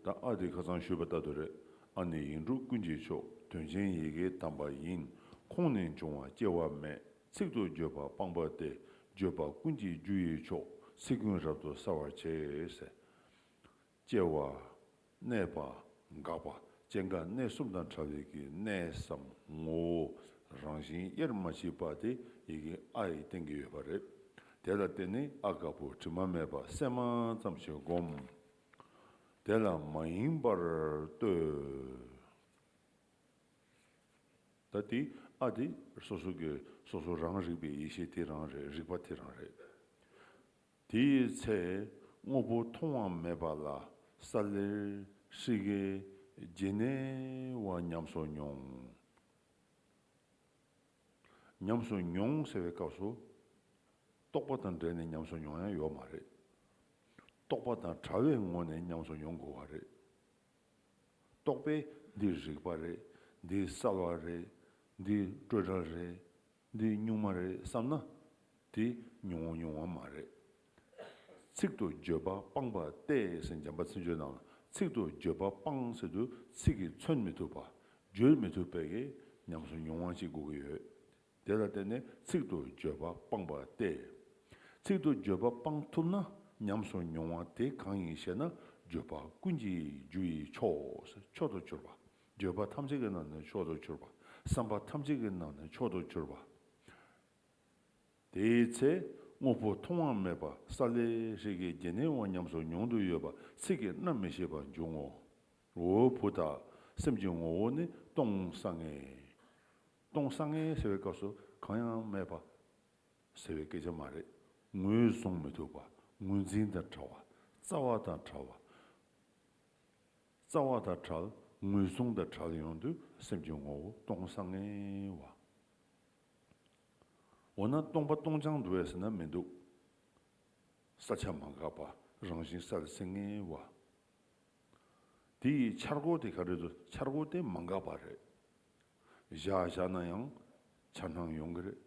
ད་ཨ་དེ་ཁ་ཚང་ཤོད་པ་ལྟ་དུ་རེད་ཨ་ནི་ཡིག་འབྲུ་ཀུན་གྱི་མཆོག་དོན་ཆེན་ཡི་གེའི་གདམས་པ་ཡིན་ཁོང་ནི་འབྱུང་བ་སྐྱེ་བ་མེད་ཚིག་ཏུ་བརྗོད་པ་སྤངས་པ་སྟེ་བརྗོད་པ་ཀུན་གྱི་རྒྱུ་ཡི་མཆོག་ཚིག་ཀུན་རབ་ཏུ་གསལ་བར་བྱེད། སྐྱེ་བ། གནས་པ། འགག་པ་སྐྱེ་འགག་གནས་གསུམ་དང་ཕྲ་བའི་གི་གནས་སམ་ངོ་བོ་རང་བཞིན་དབྱེར་མ་མཆིས་པ་དེ་ཡི་གེ་ཨ་ཡི་སྟེང་གི་ཡོད་པ་རེད། དེ་ལ་བརྟེན་ནས་ཨ་དཀར་པོ་དྲི་མ་མེད་པ་གསལ་མ་ཙམ་ཞིག་བསྒོམ། དེ་ལ་མ་ཡིན་པར་ལྟོས། ད་དེ་ཨ་དེ་སོ་སོ་གི་སོ་སོ་རང་རིག་པའི་ཡེ་ཤེས་དེ་རང་རེད་རིག་པ་དེ་རང་རེད། དེའི་ཚེ་དངོས་པོ་མཐོང་བ་མེད་པ་ལ་ས་ལེར་ཧྲིག་གེ་རྗེན་ནེ་བ་ཉམས་སོ་མྱོང། ཉམས་སུ་མྱོང་ཟེར་བའི་སྐབས་སུ། རྟོག་པ་དང་འབྲེལ་ནས་ཉམས་སུ་མྱོང་ཡང་ཡོད་མ་རེད། རྟོག་པ་དང་བྲལ་བའི་ངོ་ནས་ཉམས་སུ་མྱོང་དགོས་བ་རེད། རྟོག་པས་འདི་རིག་པ་རེད། འདི་གསལ་བ་རེད། འདི་སྤྲོས་བྲལ་རེད། འདི་གཉུག་མ་རེད་བསམ་ན། དེ་ཉུང་ཉུང་བ་མ་རེད། ཚིག་ཏུ་བརྗོད་པ་སྤངས་པ་སྟེ་ཟེར་འཇམ་པ་ཚིག་འཇོལ་དང་ཚིག་ཏུ་བརྗོད་པ་སྤངས་ཟེར་དུ་ཚིག་གིས་མཚོན་མི་ཐུབ་པ། བརྗོད་མི་ཐུབ་པས་ཉམས་སུ་མྱོང་བ་གཅིག་དགོས་ཀྱི་ཡོད། དེ་ལ་བརྟེན་ནས་ཚིག་ཏུ་བརྗོད་པ་སྤངས་པ་སྟེ། ཚིག་ཏུ་བརྗོད་པ་སྤངས་ཐུབ་ན་ཉམས་སུ་མྱོང་བ་དེ་གང་ཡིན་ཞེ་ན་བརྗོད་པ་ཀུན་གྱི་རྒྱུ་ཡི་ཕྱོགས་སུ་མཆོག་ཏུ་གྱུར་པ། བརྗོད་པ་ཐམས་ཅད་ཀྱི་ནང་ནས་མཆོག་ཏུ་གྱུར་པ། བསམ་པ་ཐམས་ཅད་ཀྱི་ནང་ནས་མཆོག་ཏུ་གྱུར་པ། དེའི་ཚེ་དངོས་པོ་མཐོང་བ་མེད་པ་ས་ལེ་ཧྲིག་གེའི་རྒྱན་ནི་འོ་ཉམས་སུ་མྱོང་དུ་ཡོད་པ་ཚིག་གིས་རྣམ་མི་ཤེས་པ་འབྱུང་ངོ། འོའོ་བུ་དག་སེམས་ཀྱི་ངོ་བོ་ནི་སྟོང་སང་ངེ། སྟོང་སང་ངེ་ཟེར་བའི་སྐབས་སུ་གང་ཡང་མེད་པ་ཟེར་བའི་སྐད་ཆ་མ་རེད། ངོས་བཟུང་མི་ཐུབ་པ་ངོས་འཛིན་དང་བྲལ་བ་རྩ་བ་དང་བྲལ་བ། རྩ་བ་དང་བྲལ་ངོས་བཟུང་དང་བྲལ་ཡོང་དུས་སེམས་ཀྱི་ངོ་བོ་སྟོང་སང་ངེ་བ། འོ་ན་སྟོང་པ་སྟོང་རྐྱང་འགྲོ་བའི་ཟེར་ན་མི་འདུག། ས་ཆ་མ་འགགས་པ་རང་བཞིན་སར་སེང་ངེ་བ། དེ་ཡི་འཆར་སྒོ་དེ་ག་རེ་རེད་འཆར་སྒོ་དེ་མ་འགགས་པ་རེད། བཞག་བཞག་ན་ཡང་འཆར་སྣང་ཡོང་གི་རེད།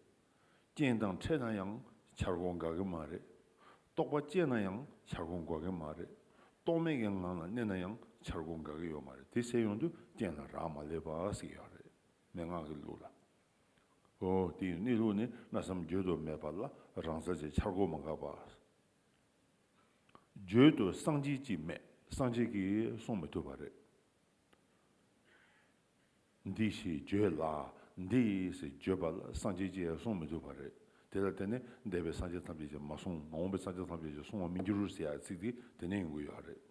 རྐྱེན་དང་འཕྲད་ན་ཡང་འཆར་སྒོ་འགག་གི་མ་རེད། རྟོག་པ་སྐྱེས་ན་ཡང་འཆར་སྒོ་འགོག་གི་མ་རེད། རྟོག་མེད་ཀྱི་ངང་ལ་གནས་ན་ཡང་འཆར་སྒོ་འགག་གི་ཡོད་མ་རེད་དེ་ཟེར་ཡོང་དུས་རྐྱེན་ལ་རག་མ་ལས་པ་ཟིག་ཡོད་རེད་མན་ངག་གི་ལུགས་ལ། འོ། དེའི་གནས་ལུགས་ནི་གནའ་བསམ་བརྗོད་དུ་མེད་པ་ལ་རང་ས་ཆའི་འཆར་སྒོ་མ་འགགས་པ། བརྗོད་དུ་གསང་ཆེན་གཅིག་མེད་གསང་ཆེན་གྱིས་གསུང་མི་ཐུབ་པ་རེད། འདི་ཞེས་བརྗོད་ལ་འདི་ཞེས་བརྗོད་པ་ལ་གསང་ཆེན་གཅིག་གསུང་མི་ཐུབ་པ་རེད། དེ་ལ་བརྟེན་ནས་འདས་པའི་གསང་ཆེན་ཐམས་ཅད་ཀྱིས་མ་གསུངས་མ་འོངས་པའི་གསང་ཆེན་ཐམས་ཅད་ཀྱིས་གསུང་བ་མི་འགྱུར་ཟེར་ཡག་ཚིག་དེ་དེ་ནས་ཡོང་གི་ཡོད་རེད།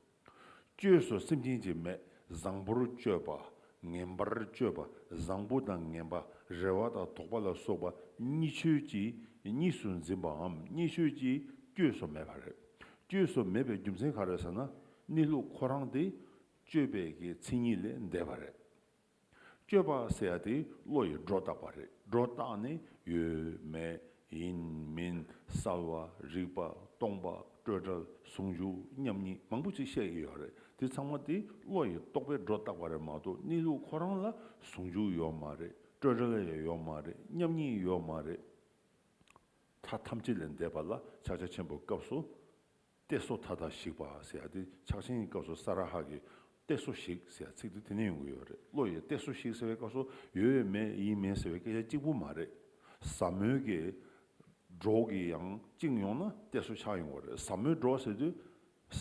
བཅོས་སོ་སེམས་ཅན་གྱི་མེད་བཟང་པོར་སྤྱོད་པ། ངན་པར་སྤྱོད་པ་བཟང་པོ་དང་ངན་པ་རེ་བ་དང་དོགས་པ་ལ་སོགས་པ་གཉིས་ཆོས་ཀྱིས་གཉིས་སུ་འཛིན་པའམ་གཉིས་ཆོས་ཀྱིས་བཅོས་སོ་མེད་པ་རེད། བཅོས་སོ་མེད་པའི་རྒྱུ་མཚན་ག་རེ་ཟེར་ན། གནས་ལུགས་ཁོ་རང་དེ། སྤྱོད་པའི་གི་མཚན་ཉིད་ལས་འདས་པ་རེད། སྤྱོད་པ་ཟེར་དེ་བློ་ཡི་སྒྲོ་བཏགས་པ་རེད་སྒྲོ་བཏགས་ནི་ཡོད་མེད་ཡིན་མིན་གསལ་བ་རིག་པ་སྟོང་པ་སྤྲོས་བྲལ་ཟུང་འཇུག་མཉམ་ཉིད་མང་པོ་ཅིག་བཤད་ཀྱི་ཡོད་རེད་དེ་ཚང་མ་དེ་བློ་ཡི་རྟོག་པའི་སྒྲོ་བཏགས་པ་རེད་མ་གཏོགས་གནས་ལུགས་ཁོ་རང་ལ་ཟུང་འཇུག་ཡོད་མ་རེད་སྤྲོས་བྲལ་ཡོད་མ་རེད་མཉམ་ཉིད་ཡོད་མ་རེད། མཐའ་ཐམས་ཅད་ལས་འདས་པ་ལ་ཕྱག་རྒྱ་ཆེན་པོའི་སྐབས་སུ། གཏད་སོ་ཐ་དག་ཞིག་བ་ཟེར་ཡ་དེ་ཕྱག་ཆེན་གྱི་སྐབས་སུ་ས་ར་ཧ་གི་གཏད་སོ་ཞིག་ཟེར་ཡ་ཚིག་དེ་དེ་ནས་ཡོང་གི་ཡོད་རེད་བློ་ཡིས་གཏད་སོ་ཞིག་ཟེར་བའི་སྐབས་སུ་ཡོད་ཡོད་མེད་ཡིན་མིན་ཟེར་བའི་སྐད་ཆ་གཅིག་པུ་མ་རེད་ཟབ་མོའི་གི་སྒྲོག་གི་ཡང་བཅིངས་ཡོང་ན་གཏད་སོ་ཆགས་ཡོང་བ་རེད་ཟབ་མོའི་སྒྲོག་ཟེར་དུས་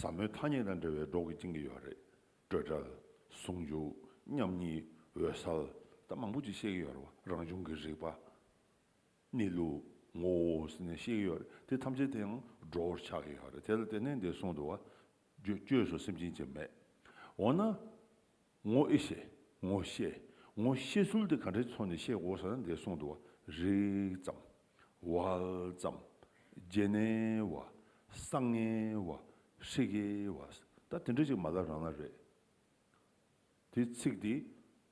ཟབ་མོའི་ཐ་སྙད་དང་འབྲེལ་བའི་སྒྲོག་གི་བཅིངས་གི་ཡོད་རེད་སྤྲོས་བྲལ། ཟུང་འཇུག། མཉམ་ཉིད། འོད་གསལ། ད་མང་པོ་ཅིག་བཤད་གི་ཡོད་རེད་བ་རང་བྱུང་གི་རིག་པ། གནས་ལུགས། ངོ་བོ་ཟེར་ནས་ཤེས་ཀྱི་ཡོད་རེད་དེ་ཐམས་ཅད་དེའང་འགྲོ་བོར་ཆགས་ཀྱི་ཡོད་རེད་དེ་ལ་བརྟེན་ནས་འདིར་གསུངས་འདུག་བ། བཅོས་སུ་སེམས་ཅན་གྱི་མེད། འོ་ན། ངོ་ཨེ་ཤེས། ངོ་ཤེས། ངོ་ཤེས་ཚུལ་དེ་ག་འདྲའི་ཚོགས་ནས་ཤེས་དགོས་ཟེར་ན་འདིར་གསུངས་འདུག་བ། རིག་ཙམ། དབལ་ཙམ། རྗེན་ནེ་བ། བསང་ངེ་བ། ཧྲིག་གེ་བ། ད་དེ་འདྲ་ཅིག་མ་ལ་རང་ན་རེད། དེའི་ཚིག་དེ་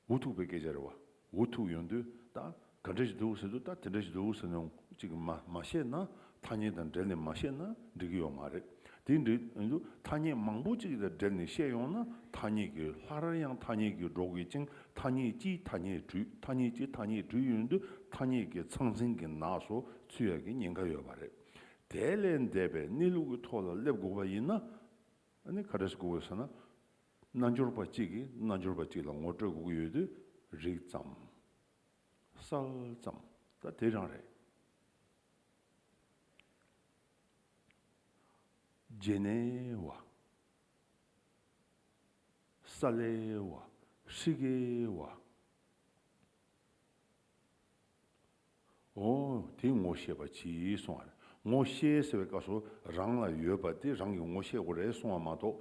འུ་ཐུག་པའི་སྐད་ཆ་རེད་བ། འུ་ཐུག་ཡོང་དུས་ད་ག་འདྲ་ཞིག་འདུག་ཟེར་དུས་ད་དེ་འདྲ་ཞིག་འདུག་ཟེར་ནས་ཅིག་མ་མ་བཤད་ན་ཐ་སྙད་དང་སྦྲེལ་ནས་མ་བཤད་ན་འགྲིག་གི་ཡོད་མ་རེད། དེ་འདྲ་འདུག་ཐ་སྙད་མང་པོ་ཅིག་དང་སྦྲེལ་ནས་བཤད་ཡོང་ན་ཐ་སྙད་ཀྱི་ལྷ་རར་ཡང་ཐ་སྙད་ཀྱིས་འགྲོ་དགོས་ཅིང་ཐ་སྙད་སྤྱིའི་ཐ་སྙད་དྲུད་ཐ་སྙད་སྤྱིའི་ཐ་སྙད་དྲུད་ཡོང་དུས་ཐ་སྙད་ཀྱི་ཚང་ཚིང་གི་ནགས་སུ་ཚུད་ཡག་གི་ཉེན་ཁ་ཡོད་པ་རེད། དེ་ལས་འདས་པའི་གནས་ལུགས་ཀྱི་ཐོག་ལ་སླེབས་དགོས་པ་ཡིན་ན་ནི་ག་འདྲ་ཞིག་དགོས་ཟེར་ན། རྣལ་འབྱོར་པ་གཅིག་གིས་རྣལ་འབྱོར་པ་གཅིག་ལ་ངོ་སྤྲོད་དགོས་ཀྱི་ཡོད་དུས་རིག་ཙམ། གསལ་ཙམ། ད་དེ་རང་རེད། རྗེས་ནས་བ། ས་ལའི་བ། ཧྲིག་གེའི་བ། ཨོ། དེ་ངོ་ཤེས་པ་གྱིས་གསུངས་བར་ངོ་ཤེས་ཟེར་བའི་སྐབས་སུ་རང་ལ་ཡོད་པ་དེ་རང་གིས་ངོ་ཤེས་དགོས་རེད་གསུངས་བ་མ་གཏོགས་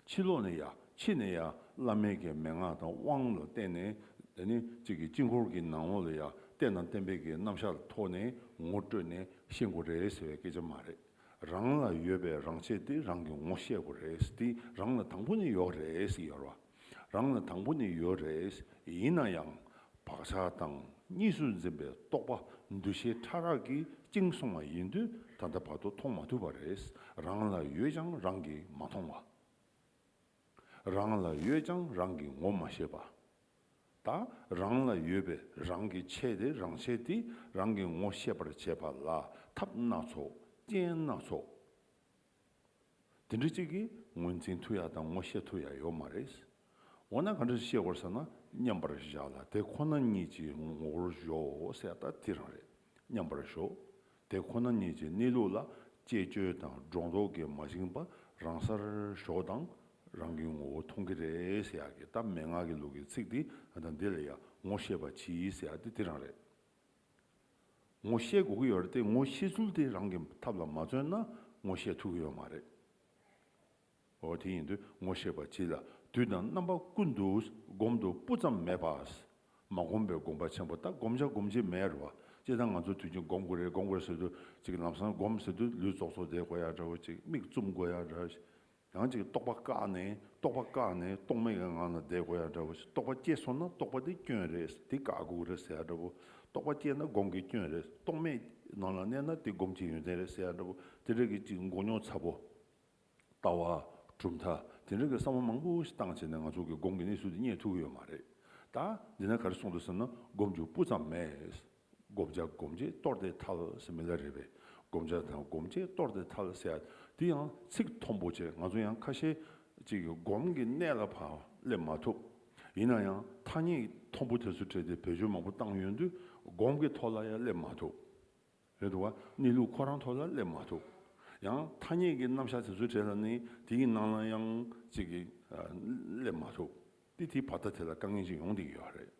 ཕྱི་ལོགས་ནས་ཡ་ཕྱི་ནས་ཡ་བླ་མེད་ཀྱི་མན་ངག་དང་དབང་ལ་བརྟེན་ནས་དེ་ནི་གཅིག་གིས་དཀྱིལ་འཁོར་གྱི་ནང་ལོགས་ལ་ཡ་གཏད་ནང་གཏན་འབེབས་ཀྱི་རྣམ་གཞག་ལ་ཐོགས་ནས་ངོ་སྤྲོད་ནས་ཤེས་དགོས་རེད་ཟེར་བའི་སྐད་ཆ་མ་རེད། རང་ལ་ཡོད་པའི་རང་ཆས་དེ་རང་གིས་ངོ་ཤེས་དགོས་རེད་དེ་རང་ལ་དང་པོ་ནས་ཡོད་རེད་ཟེར་བ། རང་ལ་དང་པོ་ནས་ཡོད་རེད། ཡིན་ན་ཡང་བག་ཆགས་དང་གཉིས་སུ་འཛིན་པའི་རྟོག་པ་འདུ་ཤེས་ཕྲ་རགས་ཀྱིས་བཅིངས་སོང་བ་ཡིན་དུས་ད་ལྟ་བར་དུ་མཐོང་མ་ཐུབ་པ་རེད། རང་ལ་ཡོད་ཀྱང་རང་གིས་མ་མཐོང་བ། རང་ལ་ཡོད་ཀྱང་རང་གིས་ངོ་མ་ཤེས་པ། ད་རང་ལ་ཡོད་པས་རང་གིས་ཆད་དེ་རང་ཆད་དེ་རང་གིས་ངོ་ཤེས་པར་བྱེད་པ་ལ་ཐབས་སྣ་ཚོགས་རྐྱེན་སྣ་ཚོགས་དེ་འདྲ་ཅིག་གི་ངོས་འཛིན་མཐུ་ཡག་དང་ངོ་ཤེས་མཐུ་ཡག་ཡོད་མ་རེད། འོ་ན་ག་འདྲ་ཤེས་དགོས་ཟེར་ན་མཉམ་པར་བཞག་ལ་དེ་ཁོ་ན་ཉིད་ཀྱི་ངོ་བོར་གཞོག་ཟེར་ད་དེ་རང་རེད། མཉམ་པར་གཞོག་དེ་ཁོ་ན་ཉིད་ཀྱི་གནས་ལུགས་ལ་དཔྱད་བརྗོད་དང་སྒྲོ་འདོགས་ཀྱིས་མ་བཅིངས་པ་རང་སར་གཞོག་དང་རང་གི་ངོ་བོ་མཐོང་གི་རེད་ཟེར་ཡག་གི་ད་མན་ངག་གི་ལུགས་ཀྱི་ཚིག་འདི་དང་འདི་ལ་ཡང་ངོ་ཤེས་པ་གྱིས་ཟེར་ཡག་དེ་དེ་རང་རེད། ངོ་ཤེས་དགོས་ཀྱི་ཡོད་རེད་དེ་ངོ་ཤེས་ཚུལ་དེ་རང་གི་ཐབས་ལ་མ་བརྩོན་ན་ངོ་ཤེས་ཐུབ་ཀྱི་ཡོད་མ་རེད། འོ་དེ་ཡིན་དུས་ངོ་ཤེས་པ་ཅི་ལ་དུས་དང་རྣམ་པ་ཀུན་ཏུ་སྒོམ་དུ་སྤུ་ཙམ་མེད་པ། མ་སྒོམ་པའི་སྒོམ་པ་ཆེན་པོ་དག་སྒོམ་བྱ་སྒོམ་བྱེད་མེད་རེད་བ། སྤྱིར་བཏང་ང་ཚོ་དུས་ཆེན་སྒོམ་དགོས་རེད་སྒོམ་དགོས་ཟེར་དུས་གཅིག་ལམ་སང་སྒོམ་ཟེར་དུས་ལུས་རྫོགས་ཚོ་བསྡད་དགོས་ཡག་འདྲ་བོ་གཅིག་མིག་བཙུམ་དགོས་ཡག་འདྲ། ཡང་ཅིག་རྟོག་པ་བཀག་ནས་རྟོག་པ་བཀག་ནས་རྟོག་མེད་ཀྱི་ངང་ལ་བསྡད་དགོས་ཡ་འདྲ་བོ་རྟོག་པ་སྐྱེས་སོང་ན་རྟོག་པ་དེ་སྐྱོན་རེད་དེ་བཀག་འགོག་རེད་ཟེར་ཡ་འདྲ་བོ་རྟོག་པ་སྐྱེས་ན་སྒོམ་གྱི་སྐྱོན་རེད་རྟོག་མེད་ཀྱི་ནང་ལ་གནས་ན་དེ་སྒོམ་གྱི་ཡོན་ཏན་རེད་ཟེར་ཡ་འདྲ་བོ་དེ་རིགས་ཀྱི་ཅིག་འགོག་མྱོང་ཚ་བོ། ལྟ་བ། གྲུབ་མཐའ་དེ་འདྲ་གི་བསམ་བློ་མང་པོ་ཞིག་བཏང་བྱས་ནས་ང་ཚོ་གི་སྒོམ་གྱི་གནས་ཚུལ་དེ་རྙེད་ཐུབ་ཀྱི་ཡོད་མ་རེད་ད། འདི་ན་ག་རེ་གསུང་འདུག་ཟེར་ན་སྒོམ་རྒྱུ་སྤུ་ཙམ་མེད། བསྒོམ་བྱ་བསྒོམ་བྱེད་སྟོར་ཏེ་ཐལ་ཟེར་མི་ལ་རེ་བས་བསྒོམ་བྱ་དང་བསྒོམ་བྱེད་སྟོར་ཏེ་ཐལ་ཟེར་ཡ་འདི་ཡང་ཚིག་མཐོན་པོ་ཆེ་ང་ཚོ་ཡང་ཁ་ཤས་ཅིག་གིས་སྒོམ་གྱི་གནད་ལ་བག་ལེབ་མ་ཐུབ། ཡིན་ན་ཡང་ཐ་སྙད་མཐོན་པོ་དེ་ཚོ་བྲིས་ཏེ་བེད་སྤྱོད་མང་པོ་བཏང་ཡོད་དུས་སྒོམ་གྱི་ཐོག་ལ་ཡང་སླེབས་མ་ཐུབ། རེད་འདུག་བ་གནས་ལུགས་ཁོ་རང་ཐོག་ལ་སླེབས་མ་ཐུབ། ཡང་ཐ་སྙད་ཀྱི་རྣམ་གཞག་དེ་ཚོ་བྲིས་ལ་ནི་དེ་ཡི་ནང་ལ་ཡང་ཅིག་གིས་སླེབས་མ་ཐུབ། ཏི་ཐི་བ་ད་དེ་ལ་དཀའ་ངལ་ཅིག་ཡོང་སྡིག་ཡོད་རེད།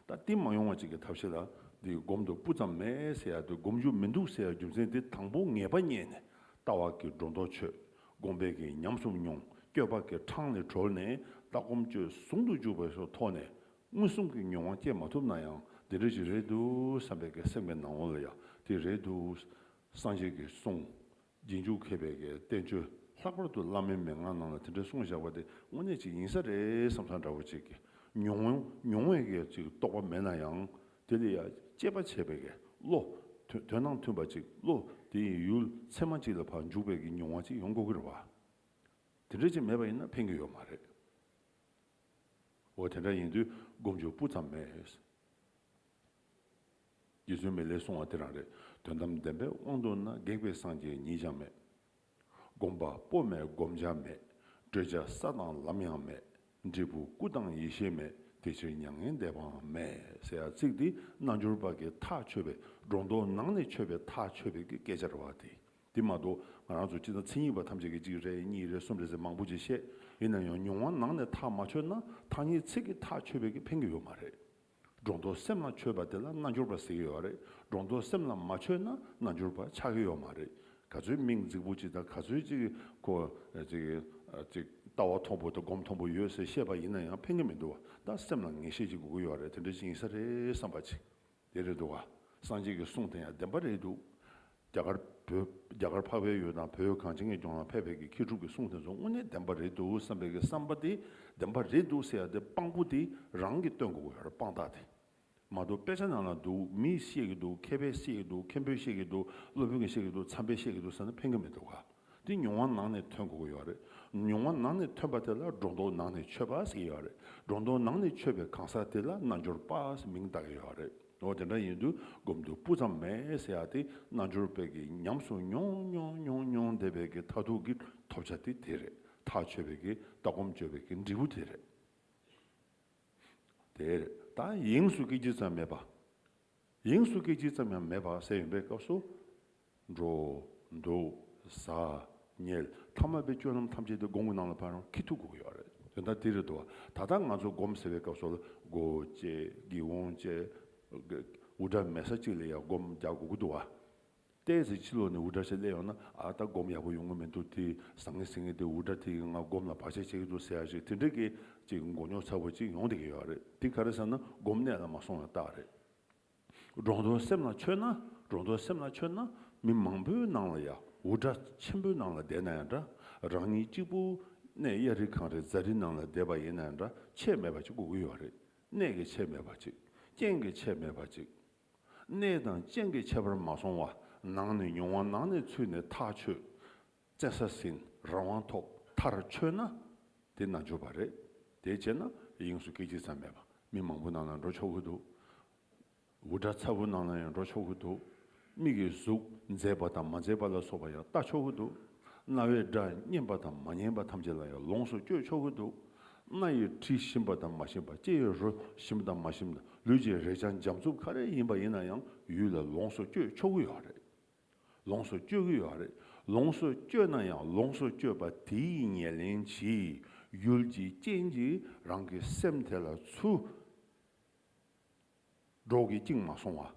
ད་བསྟིམ་མ་ཡོང་བ་ཅིག་གི་ཐབས་ཤེས་ལ་འདི་སྒོམ་དུ་སྤུ་ཙམ་མེད་ཟེར་ཡག་དུས་སྒོམ་རྒྱུ་མི་འདུག་ཟེར་ཡག་རྒྱུ་མཚན་དེ་དང་པོ་ངེས་པ་རྙེད་ནས་ལྟ་བ་གི་སྒྲོ་འདོགས་ཆོད་སྒོམ་སྤེལ་གི་ཉམས་སུ་མྱོང་སྐྱོད་པ་གི་འཕྲང་ལས་གྲོལ་ནས་ལྟ་སྒོམ་སྤྱོད་ཟུང་དུ་འཇུག་པའི་སོ་ཐོག་ནས་མངོན་སུམ་གི་མྱོང་བ་བསྐྱེད་མ་ཐུབ་ན་ཡང་འདི་འདྲ་ཞིག་རེད་འདུག་བསམ་པའི་གེགས་སེམས་ཀྱི་ནང་བ་ལ་ཡང་དེ་རེད་འདུག་སངས་རྒྱས་ཀྱི་གསུང་རྗེས་འཇུག་མཁས་པའི་བསྟན་བཅོས་ལྷག་པར་དུ་བླ་མའི་མན་ངག་རྣམས་ལ་དེ་འདྲའི་གསུངས་བཞག་པ་དེ་དངོས་གནས་ཅིག་ཡིན་ས་རེད་བསམ་བསམ་འདྲ་བོ་ཅིག་གི། མྱོང་བས་ཀྱི་ཅིག་རྟོགས་པ་མེད་ན་ཡང་དེ་ལ་ཡང་དཔྱད་པ་བྱས་པས་ཀྱི་བློ། དོན་དང་མཐུན་པ་ཅིག་བློ་དེ་ཡི་ཡུལ་ཚད་མ་ཅིག་ལ་བར་འཇུག་པས་ཀྱི་མྱོང་བ་ཅིག་ཡོང་དགོས་ཀྱི་རེད་བ། དེ་འདྲ་ཅིག་མེད་པ་ཡིན་ན་ཕན་གྱི་ཡོད་མ་རེད། འོ་དེ་འདྲ་ཡིན་དུས་སྒོམ་ཆོས་སྤུ་ཙམ་མེད། རྗེ་བཙུན་མི་ལའི་གསུང་བ་དེ་རང་རེད་དོན་དམ་བདེན་པའི་དབང་དུ་ན་སྒེག་པའི་སངས་རྒྱས་ཉིད་ཀྱང་མེད། དགོངས་པ་སྤོབས་མེད་བསྒོམ་བྱ་མེད། བགྲོད་བྱ་ས་དང་ལམ་ཡང་མེད། འབྲས་བུ་སྐུ་དང་ཡེ་ཤེས་མེད་དེ་ཕྱིར་མྱ་ངན་འདས་པའང་མེད། ཟེར་ཡག་ཚིག་འདི་རྣལ་འབྱོར་པ་གི་ཐག་ཆོད་པའི་སྒྲོ་འདོགས་ནང་ནས་ཆོད་པའི་ཐག་ཆོད་པའི་གི་སྐད་ཆ་རེད་བ། དེ་མ་གཏོགས་ང་རང་ཚོ་སྤྱི་དང་མཚན་ཉིད་པ་ཐམས་ཅད་ཀྱི་གཅིག་རེད་གཉིས་རེད་གསུམ་རེད་ཟེར་མང་པོ་ཅིག་བཤད་ཡིན་ན་ཡང་མྱོང་བ་ནང་ནས་ཐག་མ་ཆོད་ན་ཐག་ཉེ་ཚིག་གི་ཐག་ཆོད་པའི་གི་ཕན་གི་ཡོད་མ་རེད། སྒྲོ་འདོགས་སེམས་ལ་ཆོད་པ་དེ་ལ་རྣལ་འབྱོར་པ་ཟེར་གྱི་ཡོད་རེད་སྒྲོ་འདོགས་སེམས་ལ་མ་ཆོད་ན་རྣལ་འབྱོར་པ་ཆགས་ཀྱི་ཡོད་མ་རེད་ག་ཚོད་མིང་རྫིག་པོ་གཅིག་དང་ག་ཚོད་ཅིག་གོ། ལྟ་བ་མཐོང་པོ་དང་སྒོམ་མཐོང་པོ་ཡོད་ཟེར་བཤད་པ་ཡིན་ན་ཡང་ཕན་གྱི་མི་འདུག་བ་ད་སེམས་ལ་ངེས་ཤེས་ཅིག་དགོས་ཀྱི་ཡོད་རེད་དེ་འདྲ་ཅིག་ཡིན་ས་རེད་བསམ་པ་ཅིག་དེ་རེད་འདུག་བ་སངས་རྒྱས་ཀྱི་གསུང་དེ་ཡང་བདེན་པ་རེད་འདུག་རྒྱ་གར་བོད། རྒྱ་གར་འཕགས་པའི་ཡུལ་དང་བོད་གངས་ཅན་གྱི་ལྗོངས་ལ་ཕེབས་པའི་གི་མཁས་གྲུབ་ཀྱི་གསུང་དེ་ཚོ་དངོས་གནས་བདེན་པ་རེད་འདུག་བསམ་པའི་གི་བསམ་པ་དེ་བདེན་པ་རེད་འདུག་ཟེར་ཡ་དེ་དཔང་པོ་དེ་རང་གི་སྟོན་དགོས་ཡར་དཔང་རྟགས་དེ་མ་གཏོགས་དཔེ་ཆ་ནང་ལ་འདུག་མིས་བཤད་གི་འདུག་མཁས་པས་བཤད་གི་འདུག་མཁན་པོས་བཤད་གི་འདུག་སློབ་དཔོན་གྱིས་བཤད་གི་འདུག་འཚམས་པས་བཤད་གི་འདུག་ཟེར་ན་ཕན་གི་མི་འདུག་ག་དེ་མྱོང་བ་ནང་ནས་ཐོན་དགོས་གི་ཡོད་རེད་མྱོང་བ་ནང་ནས་ཐོན་པ་དེ་ལ་སྒྲོ་འདོགས་ནང་ནས་ཆོད་པ་ཟེར་གི་ཡོད་རེད་སྒྲོ་འདོགས་ནང་ནས་ཆོད་པའི་གང་ཟག་དེ་ལ་རྣལ་འབྱོར་པ་ཟེར་མིང་བཏགས་གི་ཡོད་རེད། ནོར་དེ་འདྲ་ཡིན་དུས་སྒོམ་དུས་སྤུ་ཙམ་མེད་ཟེར་ཡག་སྟེ་རྣལ་འབྱོར་དཔལ་གྱིས་ཉམས་སུ་མྱོང་མྱོང་མྱོང་མྱོང་དེ་བས་ཀྱི་མཐའ་ཐུག་གི་ཐོབ་བྱ་དེ་དེ་རེད་ཐག་ཆོད་བས་ཀྱི་ལྟ་སྒོམ་སྤྱོད་བས་ཀྱི་འབྲས་བུ་དེ་རེད། དེ་རེད་ད་ཡེངས་སུ་སྐྱེ་ཅི་ཙམ་མེད་པ། ཡེངས་སུ་སྐྱེ་ཅི་ཙམ་ཡང་མེད་པ་ཟེར་ཡོང་པའི་སྐབས་སུ། འགྲོ། འདུག། ཟ། ཉལ། ཐ་མལ་པའི་སྐྱོན་རྣམས་ཐམས་ཅད་དེ་སྒོང་གི་ནང་ལ་འཕར་ཡང་ཁྱི་ཐུག་གོ་གི་ཡོད་རེད་དོན་དག་དེ་རེད་དོ། ད་ལྟ་ང་ཚོ་སྒོམ་ཟེར་བའི་སྐབས་སོགས་ལ་སྒོ་བཅད། སྒེའུ་ཁུང་བཅད། འུར་སྒྲ་མེད་ས་གཅིག་ལ་ཡང་སྒོམ་རྒྱག་དགོས་ཀྱི་འདུག་བ། བལྟས་ཚེ་ཕྱི་ལོགས་ནས་འུར་སྒྲ་ཞིག་གླས་ཡོང་ན་ཨ་ལྟ་སྒོམ་ཡག་པོ་ཡོང་གི་མི་འདུག་དེ་ཟ་ངེ་ཟིང་ངེ་དེ་འུར་སྒྲ་དེ་ཡི་ངང་སྒོམ་ལ་བག་ཆགས་ཆེ་གི་འདུག་ཟེར་ཡག་ཞིག་དེ་འདྲ་གི་ཅིག་མགོ་རྙོག་ཚ་བོ་ཅིག་ཡོང་བསྡད་ཀྱི་ཡོད་རེད་དེ་ག་རེ་ཟེར་ན་སྒོམ་གནད་ལ་མ་སོང་བའི་རྟགས་རེད། འབྲོང་རྡོ་སེམས་ལ་མཆོད་ན་འབྲོང་རྡོ་སེམས་ལ་མཆོད་ན་མི་མང་པོའི་ནང་ལ་ཡའུ་འདྲ་ཆེན་པོའི་ནང་ལ་བསྡད་ན་ཡང་འདྲ་རང་ཉིད་གཅིག་པུ་གནས་གཡའ་རི་གངས་རི་རྫ་རི་ནང་ལ་བསྡད་པ་ཡིན་ན་ཡང་འདྲ་ཆད་མེད་པ་ཅིག་དགོས་ཀྱི་ཡོད་རེད་གནས་ཀྱི་ཆད་མེད་པ་ཅིག་རྐྱེན་གྱི་ཆད་མེད་པ་ཅིག། གནས་དང་རྐྱེན་གྱི་ཁྱད་པར་མ་སོང་བ་ནང་ནས་མྱོང་བ་ནང་ནས་ཚུད་ནས་ཐག་ཆོད། བཙལ་ས་ཟིན་རང་དབང་ཐོབ་མཐར་ཆོད་ན། དེ་ནང་ཆོས་པ་རེད། དེ་བྱས་ན་དབྱིངས་སུ་སྐད་ཅིག་ཙམ་མེད་པ་མི་མང་པོ་ནང་ལ་འགྲོ་ཆོག་གི་འདུག། འུར་སྒྲ་ཚ་བོ་ནང་ལ་ཡང་འགྲོ་ཆོག་གི་འདུག། མིག་གི་གཟུགས་མཛེས་པ་དང་མ་མཛེས་པ་ལ་སོགས་པ་ཡང་ལྟ་ཆོག་གི་འདུག། རྣ་བའི་སྒྲ་སྙན་པ་དང་མ་སྙན་པ་ཐམས་ཅད་ལ་ཡང་ལོངས་སུ་སྤྱོད་ཆོག་གི་འདུག། སྣ་ཡི་དྲི་ཞིམ་པ་དང་མ་ཞིམ་པ་ལྕེའི་རོ་ཞིམ་དང་མ་ཞིམ་ལུས་ཀྱི་རེག་བྱ་འཇམ་རྩུབ་ག་རེ་ཡིན་པ་ཡིན་ན་ཡང་ཡུལ་ལ་ལོངས་སུ་སྤྱོད་ཆོག་གི་ཡོད་རེད། ལོངས་སུ་སྤྱོད་གི་ཡོད་རེད། ལོངས་སུ་སྤྱོད་ན་ཡང་ལོངས་སུ་སྤྱོད་པ་དེའི་ཉེར་ལེན་བྱེད་ཡུལ་གྱི་རྐྱེན་གྱིས་རང་གི་སེམས་དེ་ལ་ཚུར་འགྲོ་གི་བཅིངས་མ་སོང་བ།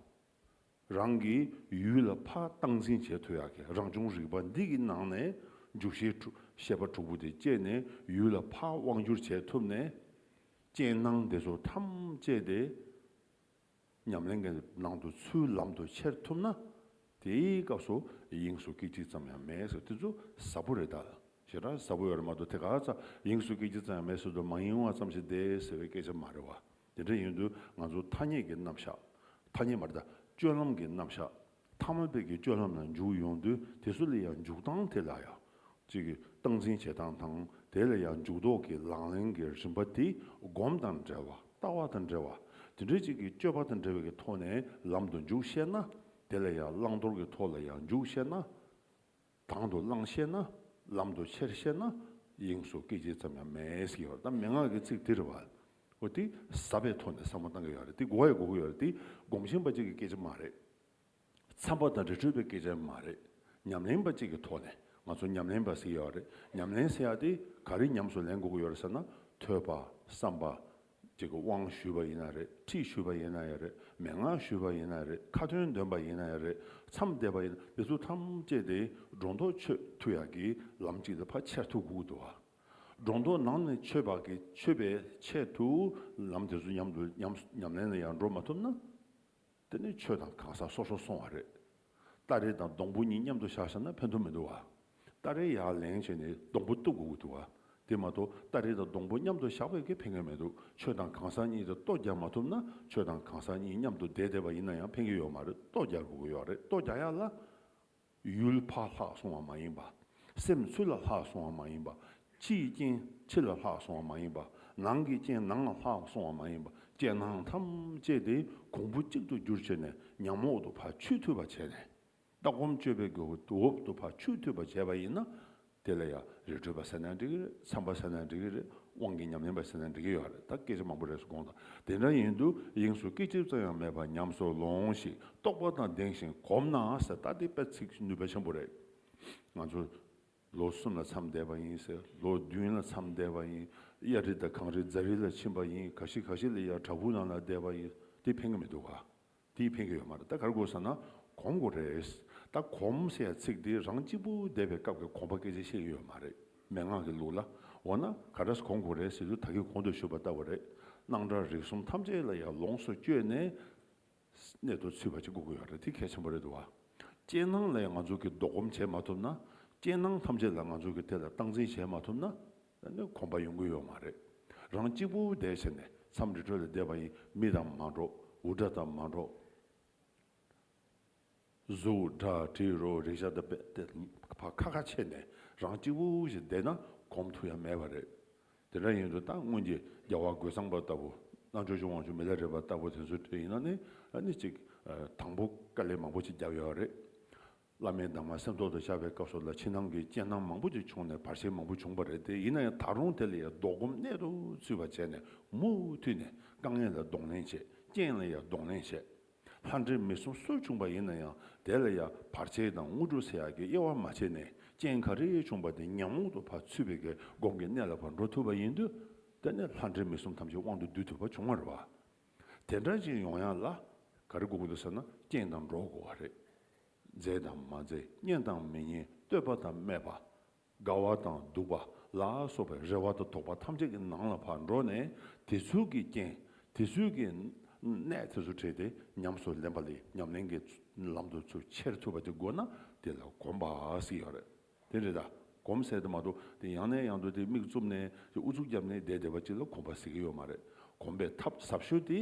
རང་གི་ཡུལ་ལ་ཕ་སྟངས་འཛིན་བྱེད་ཐུ་ཡག་གི་རང་བྱུང་རིག་པ་འདི་གི་ནང་ནས་འཇུག་ཤེས་པ་དྲུག་པོ་དེ་སྐྱེས་ནས་ཡུལ་ལ་ཕ་དབང་བསྒྱུར་བྱེད་ཐུབ་ནས། རྐྱེན་སྣང་དེ་ཚོ་ཐམས་ཅད་དེ། ཉམས་ལེན་གྱི་ནང་དུ་ཚུལ་ལམ་དུ་འཁྱེར་ཐུབ་ན། དེའི་སྐབས་སུ་དབྱིངས་སུ་སྐད་ཅིག་ཙམ་ཡང་མེད་ཟེར་དེ་ཚོ་ཟབ་པོ་རེད་ད། ཞེ་དྲག་ཟབ་པོ་ཡོད་རེད་མ་གཏོགས་དེ་ག་ཚ་དབྱིངས་སུ་སྐད་ཅིག་ཙམ་ཡང་མེད་ཟེར་དུ་མ་ཡིན་ཨང་ཙམ་ཞིག་བསྡད་ཟེར་བའི་སྐད་ཆ་མ་རེད་བ། དེ་འདྲ་ཡིན་དུས་ང་ཚོ་ཐ་སྙད་ཀྱི་རྣམ་གཞག། ཐ་སྙད་མ་རེད་ད། སྤྱོད་ལམ་གྱི་རྣམ་གཞག། ཐ་མ་དཔལ་གྱི་སྤྱོད་ལམ་ལ་འཇུག་ཡོང་དུས་དེ་སུ་ལ་ཡང་འཇུག་སྟངས་དེ་ལ་ཡང། གཅིག་སྟངས་འཛིན་བྱེད་སྟངས་དང་དེ་ལ་ཡང་འཇུག་ལྡོག་གི་ལག་ལེན་གྱི་རིམ་པ་དེ་སྒོམ་དང་འབྲེལ་བ་ལྟ་བ་དང་འབྲེལ་བ་དེ་འདྲ་གཅིག་གི་སྤྱོད་པ་དང་འབྲེལ་བའི་གི་ཐོག་ནས་ལམ་དུ་འཇུག་བཤད་ན་དེ་ལ་ཡང་བླང་དོར་གྱི་ཐོག་ལ་ཡང་འཇུག་བཤད་ན། དང་དུ་བླངས་ཤེས་ན་ལམ་དུ་ཆེར་ཤེས་ན་དབྱིངས་སུ་སྐད་ཅིག་ཙམ་ཡང་མེད་ཟེར་གྱི་ཡོད་རེད་ད་མན་ངག་གི་ཚིག་འདིར་བ་འོ་འདི་ཟབ་པའི་ཐོག་ནས་བསམ་བློ་གཏང་གི་ཡོད་རེད་འདི་གོ་ཡ་གོ་གི་ཡོད་རེད་འདི་སྒོམ་ཆེན་པ་གཅིག་གི་སྐད་ཆ་མ་རེད། འཚམས་པ་དང་རི་ཁྲོད་པའི་སྐད་ཆ་མ་རེད་ཉམས་ལེན་པ་གཅིག་གི་ཐོག་ནས་ང་ཚོ་ཉམས་ལེན་པ་ཟེར་གྱི་ཡོད་རེད་ཉམས་ལེན་ཟེར་ཡག་འདི་ག་རེ་ཉམས་སུ་ལེན་དགོས་ཀྱི་ཡོད་རེད་ཟེར་ན་ཐོས་པ་བསམ་པ་གཅིག་གི་དབང་ཞུས་པ་ཡིན་ན་རེད་ཁྲིད་ཞུས་པ་ཡིན་ན་ཡང་རེད་མན་ངག་ཞུས་པ་ཡིན་ན་རེད་ཁ་ཏོན་འདོན་པ་ཡིན་ན་ཡང་རེད་མཚམས་འདེབས་པ་ཡིན་ན་དེ་ཚོ་ཐམས་ཅད་དེ་སྒྲོ་འདོགས་ཆོད་ཐུ་ཡག་གི་ལམ་གཅིག་དེ་ཕ་ཆེར་ཐུ་གུག་དུ་ཨ། སྒྲོ་འདོགས་ནང་ནས་ཆོད་བག་གི་ཆོད་པའི་ཆེད་དུ་ལམ་དེ་ཚོ་མཉམ་དུ་ཉམས་ལེན་ལ་ཡང་འགྲོ་མ་ཐུབ་ན། དེ་ནས་ཆོས་དང་གང་ཟག་སོ་སོར་སོང་བ་རེད། སྟ་རེ་དང་སྡོང་བུ་གཉིས་མཉམ་དུ་བཞག་བཞག་ན་ཕན་ཐོགས་མི་འདུག་བ། སྟ་རེ་ཡར་ལེན་བྱས་ནས་སྡོང་བུ་གཏུབ་དགོས་ཀྱི་འདུག་བ། དེ་མ་གཏོགས་སྟ་རེ་དང་སྡོང་བུ་མཉམ་དུ་བཞག་པས་ཀྱི་ཕན་ངེས་མི་འདུག་ཆོས་དང་གང་ཟག་གཉིས་དེ་ལྟོ་རྒྱག་མ་ཐུབ་ན་ཆོས་དང་གང་ཟག་གཉིས་མཉམ་དུ་བསྡད་བསྡད་པ་ཡིན་ན་ཡང་ཕན་གྱི་ཡོད་མ་རེད་ལྟོ་རྒྱག་དགོས་ཀྱི་ཡོད་རེད་ལྟོ་རྒྱག་ཡག་ལ། ཡུལ་ཕ་ལྷག་སོང་བ་མ་ཡིན་པ། སེམས་ཆུ་ལ་ལྷག་སོང་བ་མ་ཡིན་པ། ཕྱིའི་རྐྱེན་ཕྱི་ལ་ལྷག་སོང་བ་མ་ཡིན་པ། ནང་གི་རྐྱེན་ནང་ལ་ལྷག་སོང་བ་མ་ཡིན་པ། རྐྱེན་སྣང་ཐམས་ཅད་དེ་གོང་བུ་གཅིག་ཏུ་འགྱུར་བྱས་ནས་ཉམས་འོག་ཏུ་བ་ཆུས་འཐུལ་བར་བྱས་ནས། ལྟ་སྒོམ་སྤྱོད་པས་འོག་ཏུ་བ་ཆུས་འཐུལ་བར་བྱས་པ་ཡིན་ན། དེ་ལ་ཡང་རི་ཁྲོད་པ་ཟེར་ན་འགྲིག་གི་རེད་ཚངས་པ་ཟེར་ན་འགྲིག་གི་རེད་དབང་གི་ཉམས་ལེན་པ་ཟེར་ན་འགྲིག་གི་ཡོད་རེད་ད་སྐད་ཆ་མང་པོ་རེ་ཟུང་དགོངས་དག་དེ་འདྲ་ཡིན་དུས་དབྱིངས་སུ་སྐད་ཅིག་ཙམ་ཡང་མེད་པར་ཉམས་སུ་ལོང་ཞིག་རྟོགས་པ་དང་ལྡན་ཞིང་གོམས་ན་ཟེར་ད་འདི་དཔེ་ཚིག་ནུས་པ་ཆེན་པོ་རེད། ང་ཚོ་ལོ་གསུམ་ལ་མཚམས་འདས་པ་ཡིན་ཟེར་ལོ་བདུན་ལ་མཚམས་འདས་པ་ཡིན་གཡའ་རི་དང་གངས་རི་རྫ་རི་ལ་ཕྱིན་པ་ཡིན་ག་ཞིག་ག་ཞིག་ལ་ཡང་བྲག་ཕུག་ནང་ལ་བསྡད་པ་ཡིན་འདི་ཕན་གི་མི་འདུག་ག་འདིས་ཕན་གི་ཡོད་མ་རེད་ད་གར་དགོས་ས་ན་གོམས་དགོས་རེད། ད་གོམས་ཟེར་ཡ་ཚིག་འདི་རང་གཅིག་པུ་བསྡད་པའི་སྐབས་ཀྱི་གོམས་པ་སྐད་ཆ་བཤད་ཀྱི་ཡོད་མ་རེད་མན་ངག་གི་ལུགས་ལ། འོ་ན་ག་རེས་གོམས་དགོས་རེད་ཟེར་རྒྱུ་ད་གི་གོང་དུ་ཞུས་པ་ལྟ་བུ་རེད། སྣང་གྲགས་རིག་གསུམ་ཐམས་ཅད་ལ་ཡང་ལོངས་སུ་སྤྱོད་ནས་གནད་དུ་ཚུད་པ་ཅིག་དགོས་ཀྱི་ཡོད་རེད་དེ་གལ་ཆེན་པོ་རེད་དུ་བ། རྐྱེན་སྣང་ལས་ང་ཚོ་གི་ལྡོག་གོམས་བྱེད་མ་ཐུབ་ན། རྐྱེན་སྣང་ཐམས་ཅད་ལ་ང་ཚོ་གི་དེ་ལ་སྟངས་འཛིན་བྱེད་མ་ཐུབ་ན། ནས་གོམ་པ་ཡོང་གི་ཡོད་མ་རེད། རང་གཅིག་པུ་འུར་བསྡད་བྱས་ནས་མཚམས་རེ་གྲོལ་ལ་བསྡད་པ་ཡིན་མི་དང་མ་འགྲོགས་འུར་སྒྲ་དང་མ་འགྲོགས། གཟུགས་སྒྲ་དྲི་རོ་རེག་བྱ་དང་བལྟས་པ་ཁ་ཁ་ཕྱེས་ནས་རང་གཅིག་པུ་ཞིག་བསྡད་ན་གོམས་ཐུག་ཡ་མེད་པ་རེད། དེ་འདྲ་ཡིན་དུས་ད་སྔོན་གྱི་རྒྱལ་བ་རྒོད་ཚང་པ་ལྟ་བུ་རྣལ་འབྱོར་ཆུང་བ་ཆུང་མི་ལ་རས་པ་ལྟ་བུ་དེ་ཚོའི་གྲས་ཡིན་ན་ནི་ནི་ཅིག་དང་པོ་དཀའ་ལས་མང་པོ་ཞིག་བརྒྱབ་ཡོད་རེད། བླ་མའི་གདམས་ངག་སེམས་ཐོག་ཏུ་འཆར་བའི་སྐབས་སུ་ལ་ཕྱི་ནང་གི་རྐྱེན་སྣང་མང་པོ་ཅིག་བྱུང་ནས་བར་ཆད་མང་པོ་བྱུང་བ་རེད་དེ་ཡིན་ན་ཡང་ད་རུང་དེ་ལ་ཡང་ལྡོག་སྒོམ་གནད་དུ་ཚུད་པ་བྱས་ནས་མུ་མཐུད་ནས་དཀའ་ངལ་ལ་གདོང་ལེན་བྱེད་རྐྱེན་ལ་ཡང་གདོང་ལེན་བྱེད། ལྷ་འདྲེ་མི་གསུམ་གསོད་བྱུང་བ་ཡིན་ན་ཡང་དེ་ལ་ཡང་བར་ཆད་དང་དངོས་གྲུབ་སེལ་ཡག་གི་དབྱེ་བ་མ་ཕྱེ་ནས་རྐྱེན་ག་རེ་བྱུང་བ་དེ་ཉམས་རྟོགས་ཏུ་བར་ཚུད་པའི་གེ་སྒོམ་གྱི་གནད་ལ་བར་འགྲོ་ཐུབ་པ་ཡིན་དུས་དེ་ནས་ལྷ་འདྲེ་མི་གསུམ་ཐམས་ཅད་དབང་དུ་བསྡུ་ཐུབ་པ་བྱུང་བར་བ་དེ་འདྲ་ཅིག་ཡོང་ཡག་ལ། ག་རེ་དགོངས་འདུག་ཟེར་ན་སྐྱེངས་དང་འགྲོགས་དགོས་བ་རེད། མཛེས་དང་མ་མཛེས་སྙན་དང་མི་སྙན་བསྟོད་པ་དང་སྨད་པ། དགའ་བ་དང་སྡུག་པ་ལ་སོགས་པའི་རེ་བ་དང་དོགས་པ་ཐམས་ཅད་ཀྱི་ནང་ལ་བར་འགྲོ་ནས་དེ་ཚུལ་གྱིས་སྐྱེངས་དེ་ཚུལ་གྱིས་གནས་དེ་ཚོ་བྲིས་ཏེ་ཉམས་སུ་ལེན་པ་ལས་ཉམས་ལེན་གྱི་ལམ་དུ་ཚུར་ཁྱེར་ཐུབ་པ་དེ་དགོས་ན་དེ་ལ་གོམས་པ་ཞིག་ཡག་རེད། དེ་རེད་ད། གོམས་བསལ་དུ་མ་གཏོགས་དེ་ཡང་ནས་ཡང་དུ་དེ་མིག་བཙུམ་ནས་དེ་ཨུ་ཚུགས་རྒྱབ་ནས་བསྡད་བསྡད་པ་ཅིག་ལ་གོམས་པ་ཟེར་གྱི་ཡོད་མ་རེད། གོམས་པའི་ཐབས་ཟབ་ཤོས་དེ།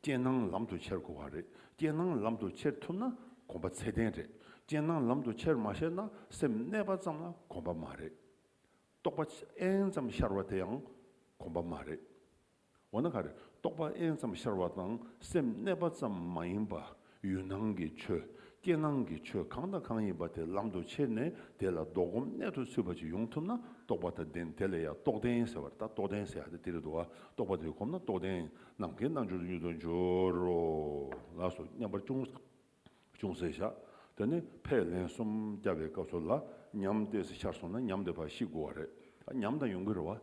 རྐྱེན་སྣང་ལམ་དུ་འཁྱེར་དགོས་བ་རེད། རྐྱེན་སྣང་ལམ་དུ་འཁྱེར་ཐུབ་ན་གོམས་པ་ཚད་ལྡན་རེད། རྐྱེན་སྣང་ལམ་དུ་འཁྱེར་མ་ཤེས་ན་སེམས་གནས་པ་ཙམ་ལ་གོམས་པ་མ་རེད། རྟོགས་པ་ཨེན་ཙམ་ཤར་བ་དེ་ཡང་གོམས་པ་མ་རེད། འོ་ན་ག་རེ་རྟོགས་པ་ཨེན་ཙམ་ཤར་བ་དང་སེམས་གནས་པ་ཙམ་མ་ཡིན་པ་ཡུལ་སྣང་གི་ཆོས་རྐྱེན་སྣང་གི་ཆོས་གང་དང་གང་ཡིན་པ་དེ་ལམ་དུ་ཁྱེར་ནས་དེ་ལ་བཟློག་སྒོམ་གནད་དུ་ཚུད་པ་ཅིག་ཡོང་ཐུབ་ན་རྟོགས་པ་དང་ལྡན་དེ་ལ་ཡང་རྟོགས་ལྡན་ཟེར་བ་རེད་ད་རྟོགས་ལྡན་ཟེར་ཡག་དེ་དེ་རེད་འདུག་ཨ་རྟོགས་པ་དེ་གོམས་ན་རྟོགས་ལྡན་ནམ་མཁའི་རྣལ་འབྱོར་དུ་མྱུར་དུ་འབྱོར་རོ་ལགས་སོ་སྙམ་པར་ཅུང་ཅུང་ཟད་བཞག་དེ་ནས་ཕས་ལན་གསུམ་བརྒྱབ་པའི་སྐབས་སུ་ལ་ཉམས་དེ་ཤར་སོང་ན་ཉམས་དེ་བར་ཤིག་དགོས་བ་རེད་ཨ་ཉམས་དང་ཡོང་གི་རེད་བ།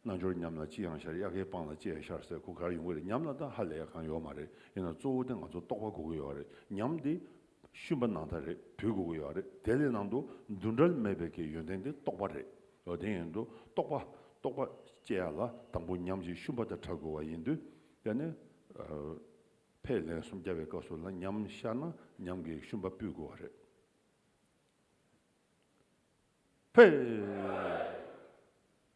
རྣལ་འབྱོར་ཉམས་ལ་ཅི་ཡང་ཤར་དབྱར་ཁའི་སྤང་ལ་ཅི་ཡང་ཤར་ཟེར་གོ་གར་ཡོང་གི་རེད་ཉམས་ལ་ད་ཧ་ལས་གང་ཡོད་མ་རེད་ཡིན་ན་གཙོ་བོ་དེ་ང་ཚོ་རྟོགས་པ་དགོས་གི་ཡོད་རེད་ཉམས་དེ། ཤུན་པ་ནང་ད་རེད་བུད་དགོས་གི་ཡོད་རེད་དེ་ལས་ནང་དུ་འདུ་འབྲལ་མེད་པའི་གི་ཡོན་ཏན་དེ་རྟོགས་པ་རེད་ཡོད་དེ་ཡིན་དུ་རྟོགས་པ་རྟོགས་པ་སྐྱེ་ཡ་ལ་དང་པོ་ཉམས་ཀྱི་ཤུན་པ་དེ་དྲག་དགོས་བ་ཡིན་དུས་དེ་ནས། ཕས་ལན་སུམ་བརྒྱ་བའི་སྐབས་སུ་ལ་ཉམས་ཤར་ན་ཉམས་ཀྱི་ཤུན་པ་སྤུད་དགོས་བ་རེད། ཕས།